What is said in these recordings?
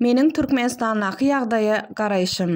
Meniň Türkmenistandaky ýagdaýa garaýşym.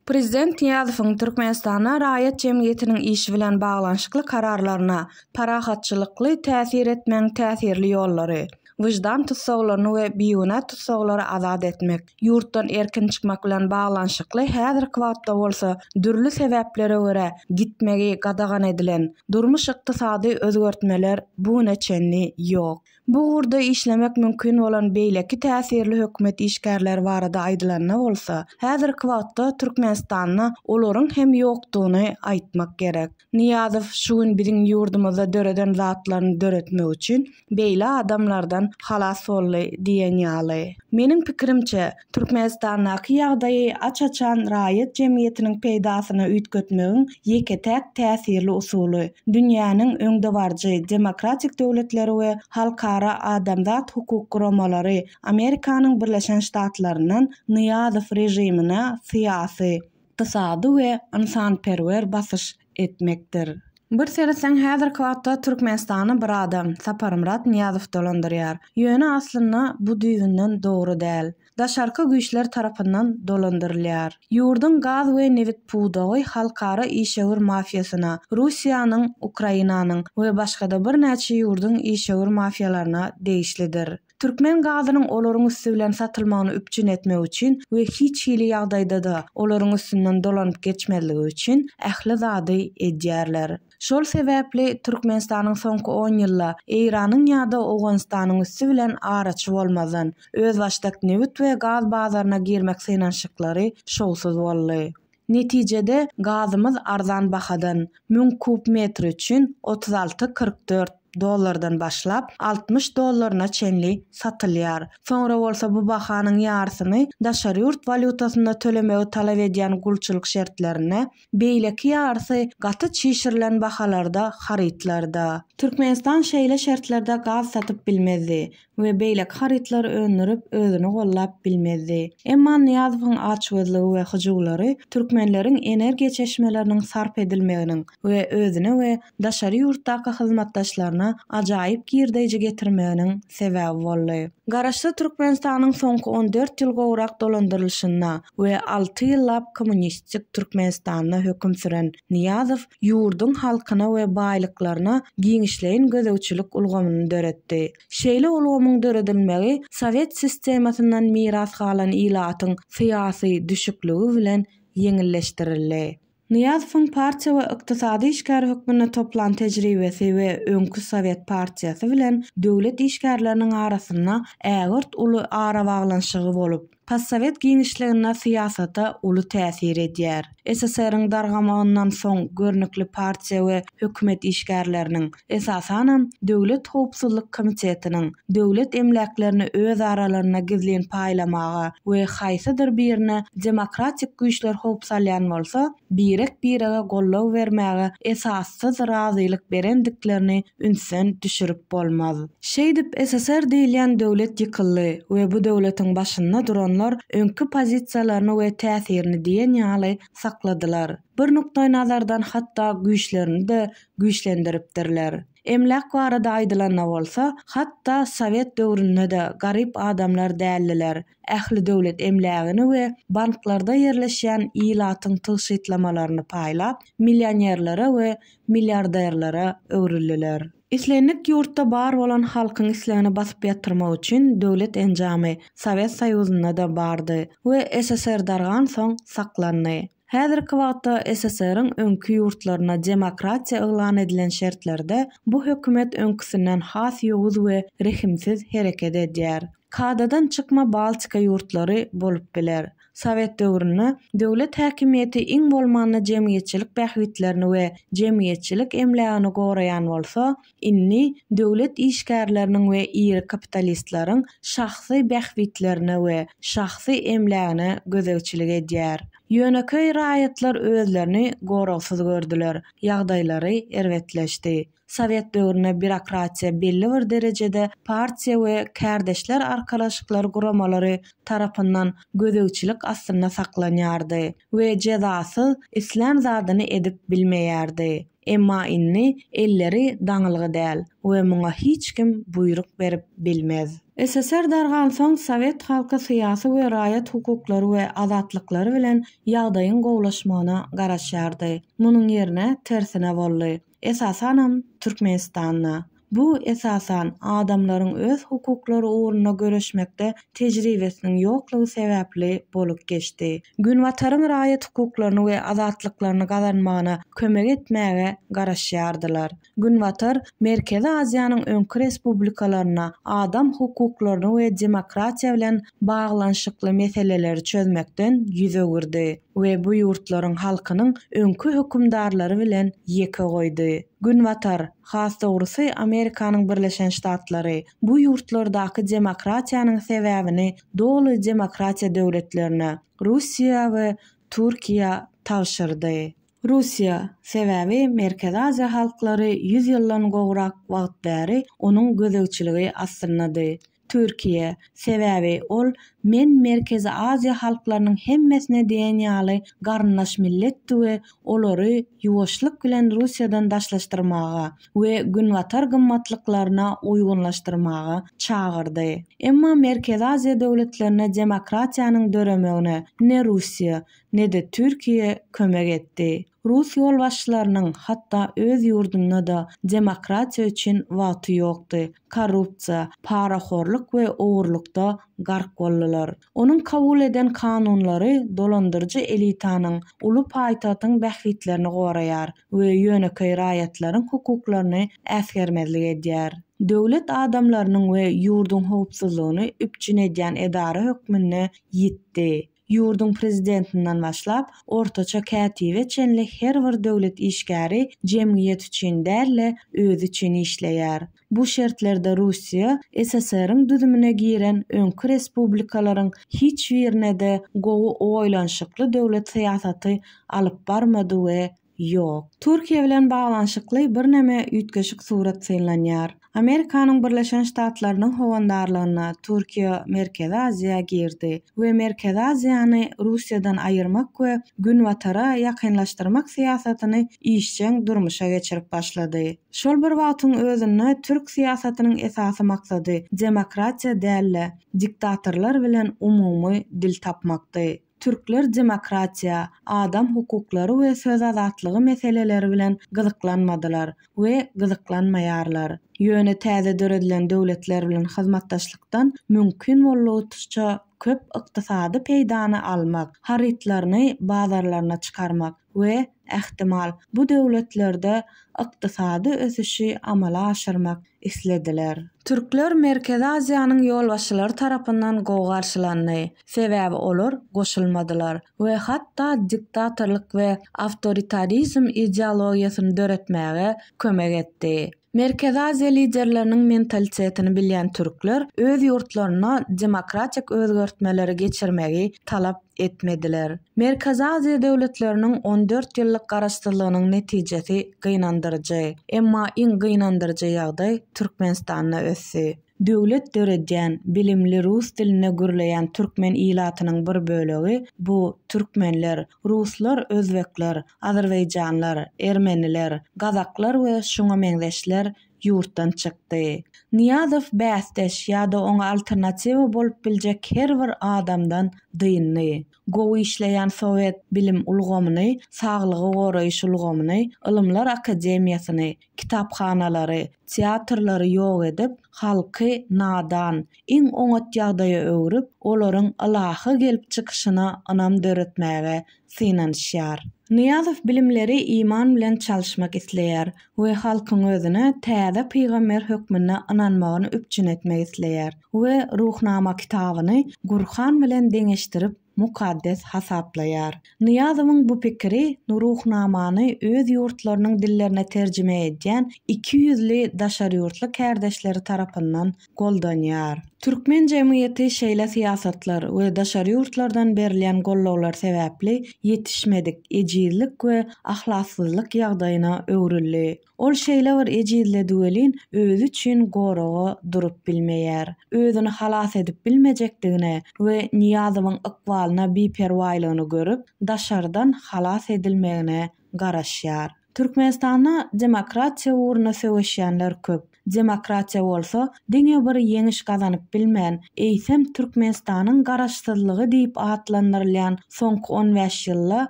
Prezident Nyýazowyň Türkmenistanda raýat jemgyýetiniň işi bilen baglanyşykly kararlaryna parahatçylykly täsir etmegiň täsirli ýollary, wyždan tussaglaryny we bigünä tussaglary azat etmek, ýurtdan erkin çykmak bilen baglanyşykly häzirki wagtda bolsa dürli sebäplere görä gitmegi gadagan edilen durmuş-ykdysady özgertmeler bu güne çenli ýok. Bu ugurda işlemek mümkin bolan beýleki täsirli hökümet işgärleri barada aýdylanda bolsa, häzirki wagtda Türkmenistanda olaryň hem ýokdugyny aýtmak gerek. Nyýazow şu gün biziň ýurdumyzda döreden zatlaryny döretmek üçin beýle adamlardan halas boldy diýen ýaly. Meniň pikirimçe, Türkmenistandaky ýagdaýy aç-açan raýat jemgyýetiniň peýdasyna üýtgetmegiň ýeke-täk täsirli usuly, dünýäniň öňdebaryjy demokratik döwletleri we halkara adamzat hukuk guramalary Amerikanyň Birleşen Ştatlaryndan Nyýazow režimine syýasy, ykdysady we ynsanperwer basyş etmekdir. Bir seretseň häzirki wagtda Türkmenistany bir adam, Saparmyrat Nyýazow dolandyrýar. Ýöne aslynda bu düýbünden dogry däl. Daşarky güýçler tarapyndan dolandyrylýar. Ýurduň gaz we nebit pudagy halkara işewür mafiýasyna, Russiýanyň, Ukrainanyň we başgada birnäçe ýurduň işewür mafiýalaryna degişlidir. Türkmen gazynyň olaryň üsti bilen satylmagyny üpjün etmek üçin we hiç hili ýagdaýda-da olaryň üstünden dolanyp geçmezligi üçin ähli zady edýärler. Şol sebäpli Türkmenistanyň soňky on ýylda Eýranyň ýa-da Owganystanyň üsti bilen araçy bolmazdan, özbaşdak nebit we gaz bazaryna girmek synanyşyklary şowsuz boldy. Netijede, gazymyz arzan bahadan, müň kub metri üçin otuz alty, kyrk dört dollardan başlap, altmyş dollaryna çenli satylýar. Soňra bolsa bu bahanyň ýarysyny daşary ýurt walýutasynda tölemegi talap edýän gulçulyk şertlerinde, beýleki ýarysy gaty çişirilen bahalarda harytlarda. Türkmenistan şeýle şertlerde gaz satyp bilmezdi. we beýleki harytlary öndürip, özüni gollap bilmezdi. Emma Nyýazowyň açgözlügi we hyjuwlary türkmenleriň energiýa çeşmeleriniň sarp edilmeginiň we özüne we daşary ýurtdaky hyzmatdaşlaryna ajaýyp girdeýji getirmeginiň sebäbi boldy. Garaşsyz Türkmenistanyň soňky on dört ýyl gowrak dolandyrylyşynda we alty ýyllap kommunistik Türkmenistanda höküm süren Nyýazow ýurduň halkyna we baýlyklaryna giňişleýin gözegçilik ulgamyny döretdi. Şeýle ulgamyň döredilmegi sowet sistemasyndan miras galan ilatyň syýasy düşükligi bilen ýeňilleşdirildi. Nyýazowyň partiýa we ykdysady işgär hökmünde toplan tejribesi we öňki sowet partiýasy bilen döwlet işgärleriniň arasynda ägirt uly arabaglanyşygy bolup, Possowet giňişliginde syýasata uly täsir edýär. SSR-iň dargamagyndan soň görnükli partiýa we hökümet işgärleriniň, esasanam, Döwlet howpsuzlyk komitetiniň döwlet emläklerini öz aralarynda gizlin paýlamaga we haýsydyr birine demokratik güýçler howp salýan bolsa, birek-birege goldaw bermäge esassyz razylyk berendiklerini ünsden düşürip bolmaz. Şeýdip, SSR diýilýän döwlet ýykyldy we bu döwletiň başynda duranlar öňki pozisiýalaryny we täsirini diýen ýaly sakladylar. Bir nukdaýnazardan hatda güýçlerini-de güýçlendiripdirler. Emläk barada aýdylanda bolsa, hatda sowet döwründe-de garyp adamlar däldiler. ähli döwlet emlägini we banklarda ýerleşýän ilatyň tygşytlamalaryny paýlap, millionerlere we milliarderlere öwrüldiler. Islendik ýurtda bar bolan halkyň islegini basyp ýatyrmak üçin döwlet enjamy Sowet Soýuzynda-da bardy we SSR dargansoň saklandy. Häzirki wagtda SSR-iň öňki ýurtlaryna demokratiýa yglan edilen şertlerde bu hökümet öňküsinden has ýowuz we rehimsiz hereket edýär. Kadadan çykma Baltika ýurtlary bolup biler. Sowet döwründe döwlet häkimiýeti iň bolmanda jemgyýetçilik bähbitlerini we jemgyýetçilik emlägini goraýan bolsa, Indi döwlet işgärleriniň we iri kapitalistleriň şahsy bähbitlerine we şahsy emlägine gözegçilik edýär. Ýönekeý raýatlar özlerini goragsyz gördüler, ýagdaýlary erbetleşdi. Sowet döwründe býurokratiýa belli bir derejede partiýa we kärdeşler arkalaşyklar guramalary tarapyndan gözegçilik astynda saklanýardy we jezasyz islän zadyny edip bilmeýärdi. Emma indi elleri daňylgy däl we muňa hiç kim buýruk berip bilmez. SSR dargansoň sowet halky syýasy we raýat hukuklary we azatlyklary bilen ýagdaýyň gowulaşmagyna garaşýardy. Munuň ýerine tersine boldy. Esasanam Türkmenistanda. Bu, esasan, adamlaryň öz hukuklary ugrunda göreşmekde tejribesiniň ýoklugy sebäpli bolup geçdi. Günbataryň raýat hukuklaryny we azatlyklaryny gazanmagyna kömek etmäge garaşýardylar. Günbatar Merkezi Aziýanyň öňki respublikalarynda adam hukuklaryny we demokratiýa bilen baglanyşykly meseleleri çözmekden ýüz öwürdi. we bu ýurtlaryň halkynyň öňki hökümdarlary bilen ýeke goýdy. Günbatar, has dogrusy Amerikanyň Birleşen Ştatlary, bu ýurtlardaky demokratiýanyň sebäbini doly demokratiýa döwletlerine, Russiýa we Türkiýä, tabşyrdy. Russiýa, sebäbi Merkezi Aziýa halklary ýüz ýyldan gowrak wagt bäri onuň gözegçiligi astynda-dy. Türkiýe, sebäbi ol men Merkezi Aziýa halklarynyň hemmesine diýen ýaly garyndaş milletdi we olary ýuwaşlyk bilen Russiýadan daşlaşdyrmaga we Günbatar gymmatlyklaryna uýgunlaşdyrmaga çagyrdy. Emma Merkezi Aziýa döwletlerine demokratiýanyň döremegine ne Russiýa, ne-de Türkiýe kömek etdi. Rus ýolbaşçylarynyň hatda öz ýurdunda-da demokratiýa üçin wagty ýokdy, korrupsiýa, parahorlyk we ogurlykda gark boldular. Onuň kabul eden kanunlary dolandyryjy elitanyň, uly paýtagtyň bähbitlerini goraýar we ýönekeý raýatlaryň hukuklaryny äsgermezlik edýär. Döwlet adamlarynyň we ýurduň howpsuzlygyny üpjün edýän edara hökmünde ýitdi. Ýurduň prezidentinden başlap, ortaça kätibe çenli her bir döwlet işgäri jemgyýet üçin däl-de, özi üçin işleýär. Bu şertlerde Russiýa SSR-iň düzümine giren öňki respublikalaryň hiç birine-de gowy oýlanyşykly döwlet syýasaty alyp barmady we Ýok. Türkiýe bilen baglanyşykly birneme üýtgeşik surat synlanýar. Amerikanyň Birleşen Ştatlarynyň howandarlygynda Türkiýe Merkezi Aziýa girdi we Merkezi Aziýany Russiýadan aýyrmak we Günbatara ýakynlaşdyrmak syýasatyny işjeň durmuşa geçirip başlady. Şol bir wagtyň özünde türk syýasatynyň esasy maksady demokratiýa däl-de, diktatorlar bilen umumy dil tapmakdy. Türkler demokratiýa, adam hukuklary we söz azatlygy meseleleri bilen gyzyklanmadylar we gyzyklanmaýarlar. Ýöne täze döredilen döwletler bilen hyzmatdaşlykdan mümkin boldugyçça köp ykdysady peýdany almak, harytlaryny bazarlaryna çykarmak, we, ähtimal, bu döwletlerde ykdysady ösüşi amala aşyrmak islediler. Türkler Merkezi Aziýanyň ýolbaşçylary tarapyndan gowy garşylandy, sebäbi olar goşulmadylar we hatda diktatorlyk we awtoritarizm ideologiýasyny döretmäge kömek etdi. Merkezi Aziýa liderleriniň mentalitetini bilýän türkler öz ýurtlarynda demokratik özgertmeleri geçirmegi talap etmediler. Merkezi Aziýa döwletleriniň on dört ýyllyk garaşsyzlygynyň netijesi gynandyryjy. Emma iň gynandyryjy ýagdaý Türkmenistanda ösdi. Döwlet döredýän, bilimli, rus dilinde gürleýän türkmen ilatynyň bir bölegi, bu, türkmenler, ruslar, özbekler, azerbaýjanlar, ermeniler, gazaklar we şuňa meňzeşler ýurtdan çykdy. Nyýazow bäsdeş ýa-da oňa alternatiwa bolup biljek her bir adamdan dyndy. gowy işleýän sowet bilim ulgamyny, saglygy goraýyş ulgamyny, Ylymlar akademiýasyny, kitaphanalary, teatrlary ýok edip, halky nadan, iň oňat ýagdaýa öwrüp, olaryň ylahy gelip çykyşyna ynam döretmäge synanyşýar. Nyýazow bilimleri iman bilen çalyşmak isleýär. we halkyň özüne täze pygamber hökmünde ynanmagyny üpjün etmek isleýär we Ruhnama kitabyny Gurhan bilen deňeşdirip mukaddes hasaplaýar. Nyýazowyň bu pikiri Ruhnamany öz ýurtlarynyň dillerine terjime edýän iki ýüzli daşary ýurtly kärdeşleri tarapyndan goldanýar. Türkmen jemgyýeti şeýle syýasatlar we daşary ýurtlardan berilýän gollawlar sebäpli ýetişmedik ejizlik we ahlassyzlyk ýagdaýyna öwrüldi. Ol şeýle bir ejizledi welin, özi üçin goraga durup bilmeýär. Özüni halas edip bilmejekdigini we Nyýazowyň ykbalyna biperwaýlygyny görüp, daşardan halas edilmegine garaşýar. Türkmenistanda demokratiýa ugruna söweşýänler köp. Demokratiýa bolsa diňe bir ýeňiş gazanyp bilmän, eýsem Türkmenistanyň garaşsyzlygy diýip atlandyrylýan soňky on bäş ýylda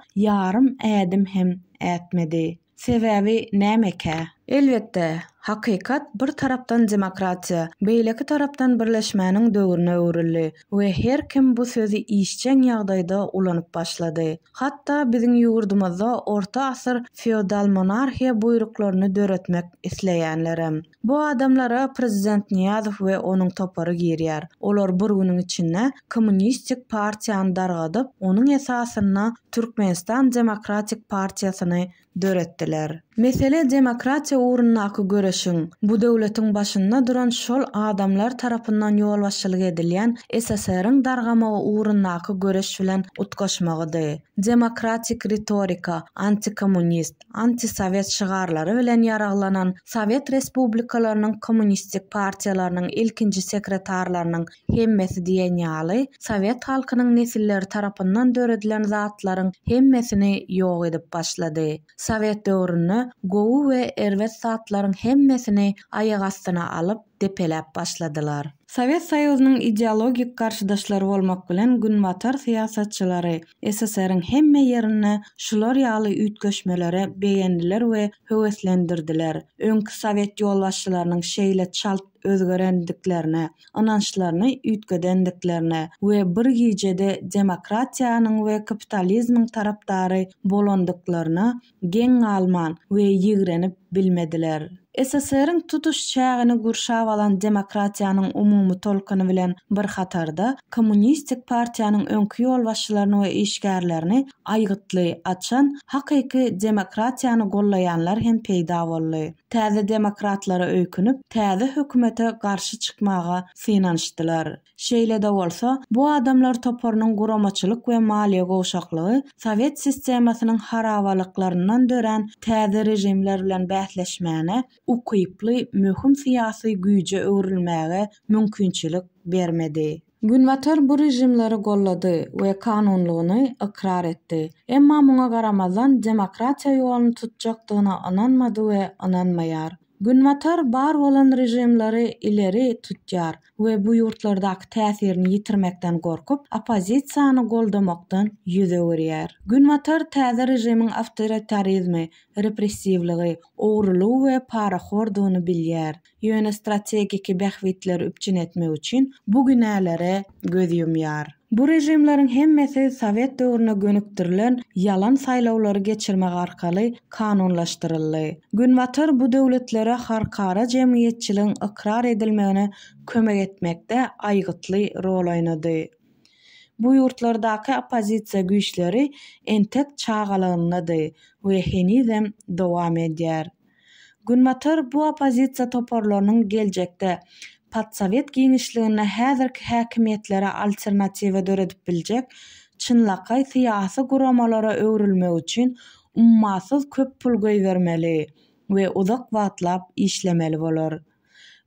ýarym ädim hem ätmedi. Sebäbi nämekä? Elbetde, hakykat bir tarapdan demokratiýa, beýleki tarapdan birleşmäniň döwrüne öwrüldi. we her kim bu sözi işjeň ýagdaýda ulanyp başlady. Hatda biziň ýurdumyzda orta asyr feodal monarhiýa buýruklaryny döretmek isleýänlerem. Bu adamlara prezident Nyýazow we onuň topary girýär. Olar bir günüň içinde kommunistik partiýany dargadyp, onuň esasynda Türkmenistan demokratik partiýasyny döretdiler. Mesele demokratiýa ugrundaky göreşiň, bu döwletiň başynda duran şol adamlar tarapyndan ýolbaşçylyk edilýän SSR-iň dargamagy ugrundaky göreş bilen utgaşmagydy. Demokratik ritorika, antikommunist, antisowet şygarlary bilen ýaraglanan sowet respublikalarynyň kommunistik partiýalarynyň ilkinji sekretarlarynyň Hemmesi diýen ýaly, sowet halkynyň nesilleri tarapyndan döredilen zatlaryň hemmesini ýok edip başlady. Sowet döwründe gowy we erbet zatlaryň hemmesini aýak astyna alyp, depeläp başladylar. Sowet Soýuzynyň ideologik garşydaşlary bolmak bilen Günbatar syýasatçylary SSR-iň hemme ýerinde şular ýaly üýtgeşmelere begendiler we höweslendirdiler. Öňki sowet ýolbaşçylarynyň şeýle çalt, özgerendiklerine, ynançlaryny üýtgedendiklerine we bir gijede demokratiýanyň we kapitalizmiň tarapdary bolandyklaryna geň galman we ýigrenip bilmediler. SSR-iň tutuş çägini gurşap alan demokratiýanyň umumy tolkuny bilen bir hatarda, kommunistik partiýanyň öňki ýolbaşçylaryny we işgärlerini aýgytly açan hakyky demokratiýany gollaýanlar hem peýda boldy. Täze demokratlara öýkünip, täze hökümete garşy çykmaga synanyşdylar. Şeýle-de bolsa, bu adamlar toparynyň guramaçylyk we maliýe gowşaklygy sowet sistemasynyň harabalyklaryndan dörän täze režimler bilen bäsleşmäne ukyply möhüm syýasy güýje öwrülmäge mümkinçilik bermedi. Günbatar bu režimleri gollady we kanunlygyny ykrar etdi. Emma muňa garamazdan demokratiýa ýoluny tutjakdygyna ynanmady we ynanmaýar. Günbatar bar bolan režimleri ileri tutýar we bu ýurtlardaky täsirini ýitirmekden gorkup, oppozisiýany goldamakdan ýüz öwürýär. Günbatar täze režimiň awtoritarizmi, repressiwligi, ogrulygy we parahordygyny bilýär. ýöne strategiki bähbitleri üpjün etmek üçin bu günälere göz ýumýar. Bu režimleriň hemmesi sowet döwrüne gönükdirilen ýalan saýlawlary geçirmek arkaly kanunlaşdyryldy. Günbatar bu döwletlere halkara jemgyýetçiligiň ykrar edilmegine kömek etmekde aýgytly rol oýnady. Bu ýurtlardaky oppozisiýa güýçleri entek çagalagyndady we henizem dowam edýär. Günbatar bu oppozisiýa toparlarynyň geljekde podsowet giňişliginde häzirki häkimiýetlere alternatiwa döredip biljek çynlakaý syýasy guramalara öwrülmegi üçin ummasyz köp pul goýbermeli we uzak wagtlap işlemeli bolar.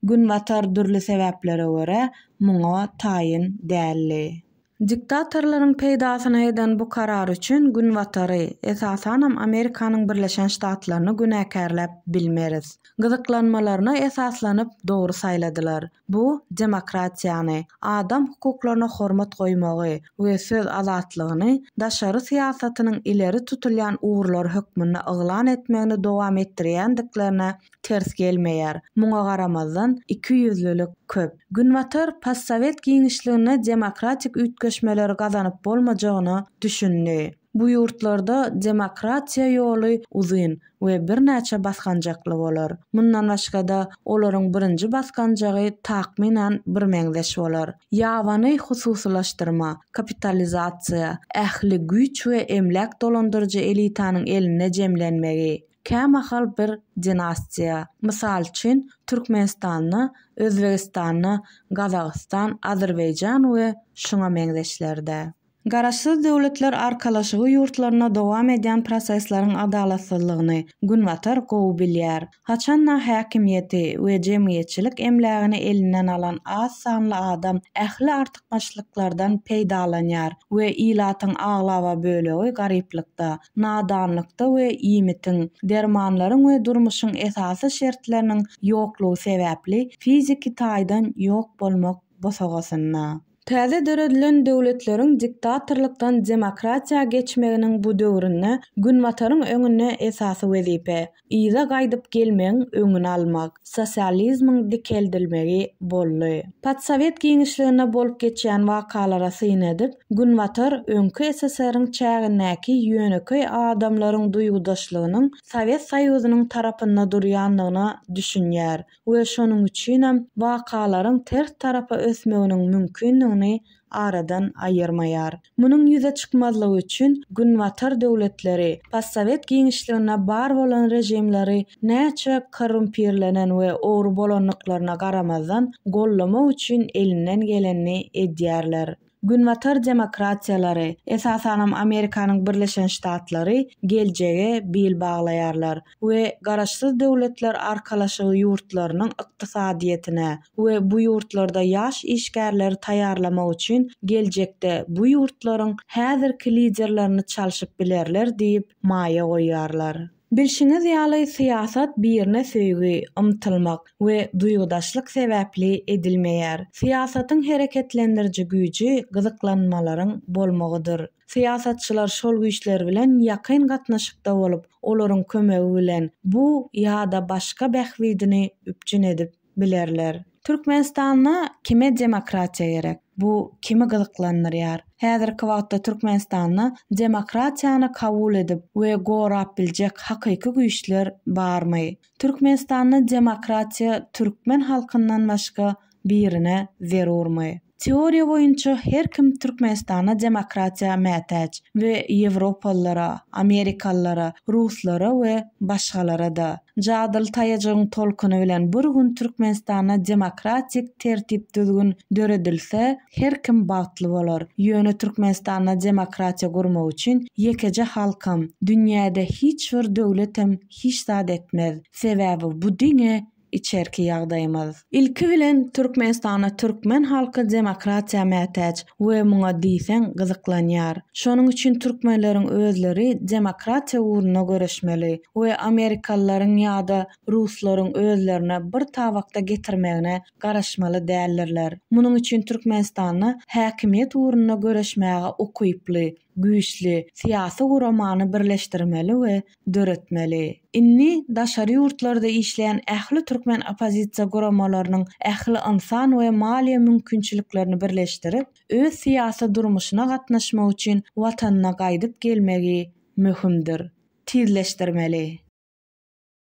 Günbatar dürli sebäplere görä muňa taýyn däldi. Diktatorlaryň peýdasyna eden bu karary üçin Günbatary, esasanam Amerikanyň Birleşen Ştatlaryny günäkärläp bilmeris. Gyzyklanmalaryna esaslanyp dogry saýladylar. Bu demokratiýany, adam hukuklaryna hormat goýmagy we söz azatlygyny daşary syýasatynyň ileri tutulýan ugurlary hökmünde yglan etmegini dowam etdirýändiklerine ters gelmeýär. Muňa garamazdan, ikiýüzlülik köp. Günbatar postsowet giňişliginde demokratik üýtgeşmeleri gazanyp bolmajagyna düşündi. Bu ýurtlarda demokratiýa ýoly uzyn we birnäçe basgançakly bolar. Mundan başga-da, olaryň birinji basgançagy takmynan birmeňzeş bolar. Ýabany hususylaşdyrma, kapitalizasiýa, ähli güýç we emläk dolandyryjy elitanyň elinde jemlenmegi, Kämahal bir dinastiýa, mysal üçin, Türkmenistanda, Özbegistanda, Gazagystan, Azerbaýjan we şuňa meňzeşlerde. Garaşsyz Döwletler Arkalaşygy ýurtlarynda dowam edýän prosesleriň adalatsyzlygyny Günbatar gowy bilýär. Haçan-da häkimiýeti we jemgyýetçilik emlägini elinden alan az sanly adam ähli artykmaçlyklardan peýdalanýar we ilatyň aglaba bölegi garyplykda, nadanlykda we iýmitiň, dermanlaryň we durmuşyň esasy şertleriniň ýoklugy sebäpli fiziki taýdan ýok bolmak bosagasynda. Täze döredilen döwletleriň diktatorlykdan demokratiýa geçmeginiň bu döwründe Günbataryň öňünde esasy wezipe, yza gaýdyp gelmegiň öňüni almak, sosializmiň dikeldilmegi boldy. Podsowet giňişliginde bolup geçýän wakalara syn edip, Günbatar öňki SSR-iň çägindäki ýönekeý adamlaryň duýgudaşlygynyň Sowet Soýuzynyň tarapynda durýandygyna düşünýär, we şonuň üçinem wakalaryň ters tarapa ösmeginiň mümkindigini aradan aýyrmaýar. Munuň ýüze çykmazlygy üçin Günbatar döwletleri, postsowet giňişliginde bar bolan režimleri näçe korrumpirlenen we ogry bolandyklaryna garamazdan, gollamak üçin elinden gelenini edýärler. Günbatar demokratiýalary, esasanam Amerikanyň Birleşen Ştatlary geljege bil baglaýarlar we Garaşsyz Döwletler Arkalaşygy ýurtlarynyň ykdysadyýetine we bu ýurtlarda ýaş işgärleri taýýarlamak üçin geljekde bu ýurtlaryň häzirki liderlerini çalşyp bilerler diýip maýa goýýarlar. Bilşiňiz ýaly, syýasat birine söýgi, ymtylmak we duýgudaşlyk sebäpli edilmeýär. Syýasatyň hereketlendiriji güýji gyzyklanmalaryň bolmagydyr. Syýasatçylar şol güýçler bilen ýakyn gatnaşykda bolup, olaryň kömegi bilen bu ýa-da başga bähbidini üpjün edip, bilerler. Türkmenistanda kime demokratiýa gerek? Bu kimi gyzyklandyrýar? Häzirki wagtda Türkmenistanda demokratiýany kabul edip we gorap biljek hakyky güýçler barmy? Türkmenistanda demokratiýa türkmen halkyndan başga birine zerurmy? Teoriýa boýunça her kim Türkmenistana demokratiýa mätäç we ýewropalylara, amerikalylara, ruslara we başgalara-da. Jadyly taýajygyň tolkuny bilen bir gün Türkmenistanda demokratik tertip-düzgün döredilse, her kim bagtly bolar. Ýöne Türkmenistanda demokratiýa gurmak üçin ýekeje halkam, dünýäde hiç bir döwletem hiç zat etmez. Sebäbi bu diňe. içerki ýagdaýymyz. Ilki bilen Türkmenistanda türkmen halky demokratiýa mätäç we muňa diýseň gyzyklanýar. Şonuň üçin türkmenleriň özleri demokratiýa ugrunda göreşmeli we amerikalylaryň ýa-da ruslaryň özlerine bir tabakda getirmegine garaşmaly däldirler. Munuň üçin Türkmenistanda häkimiýet ugrunda göreşmäge ukyply, güýçli, syýasy guramany birleşdirmeli we döretmeli. Indi daşary ýurtlarda işleýän ähli türkmen oppozisiýa guramalarynyň ähli ynsan we maliýe mümkinçiliklerini birleşdirip, öz syýasy durmuşyna gatnaşmak üçin Watanyna gaýdyp gelmegi möhümdir. Tizleşdirmeli.